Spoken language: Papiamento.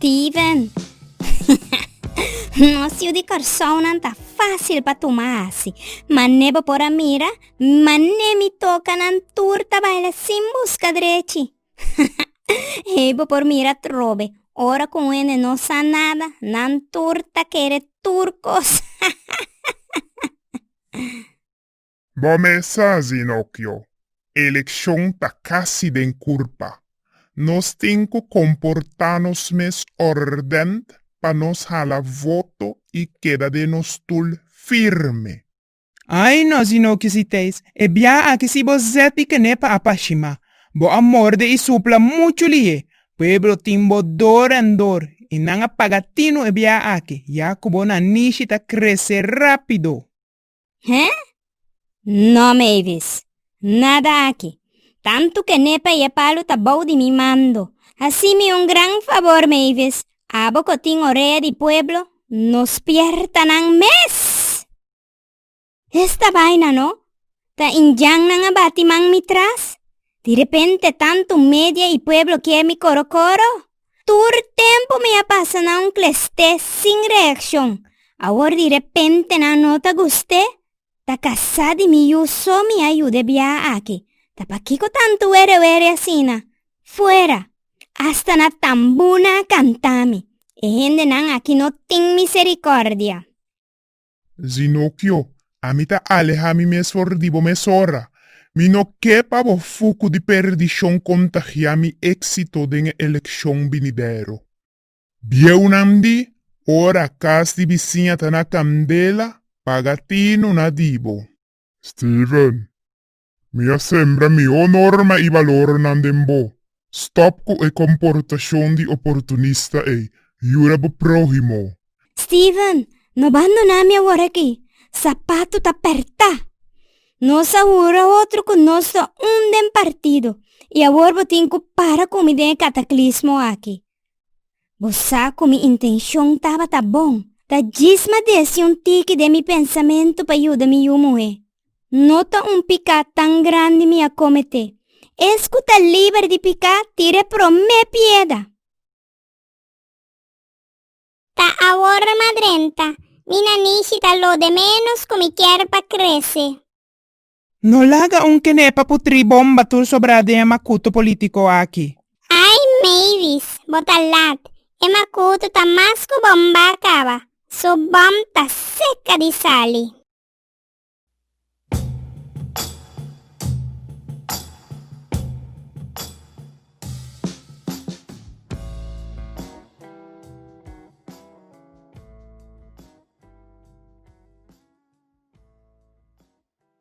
Steven, Nos yu di Kòrsounan ta fásil pa tuma hasi. Man'é bo por a mira man'é mi toka nan tur ta baila sin buska drechi. Ei bo por mira trobe, ora ku un hende no sa nada, nan tur ta kere tur kos. Bo mesa, Zinokyo, elekshon ta kasi den kurpa. Nos tin ku komportá nos mes òrdènt pa nos hala voto i keda den nos stul firme. Ai no, Zinokyo Siteis, e bia aki si bo zet i kené pa apashimá, bo a morde i supla muchu lihé. Pueblo tin bo dor èn dor i nan a paga tinu e bia aki, ya ku bo nanishi ta kresé rápido. He? No Mavis, nada aki. Tantu ke n'e pa e palu ta bou di mi mando. Hasi mi un gran fabor Mavis, abo ku tin orea di pueblo, no spierta nan mes! Esta baina no, ta Indian nan a bati man mi tras. Di repente tantu media i pueblo kier mi koro koro. Tur tempu mi a pasa na un klest'é sin reakshon. Awor di repentenan no ta gust'é, ta kasá di mi yu so mi a yud'é biaha aki. Ta pakiko tantu were were asina? Fuera! Asta na tambunan a kantami. E hendenan aki no tin miserikòrdia. Zinokio, ami ta alehá mi mes for di bo mesora. Mi no ke pa bo fuku di perdishon kontagiá mi éksito den e elekshon binidero. Bieunan di ora kas di bisiña ta na kandela, paga tinu na di bo. Steven, Mi a sembra mi honornan i balornan den bo. Stòp ku e komportashon di oportunista ei. Yuda bo próhimo. Steven, No bandoná mi awor aki. Sapatu ta pertá! Nos a hura otro ku nos ta un den partido, i awor bo tin ku para ku mi den e kataklismo aki. Bo sa ku mi intenshon tabata bon. Ta djis m'a desi un tiki den mi pensamentu pa yuda mi yu muhé. No ta un piká tan grandi mi a kometé. Es ku ta liber di piká tira e promé pieda. Ta awor m'a drenta. Mi nanishi ta lo de ménos ku mi kier pa krese. No laga un kene pa putri bomba tur sobra den e makuto politiko aki. Ai Mavis, bo ta lat, e makuto ta mas ku bomba a kaba, su bòm ta seka di sali.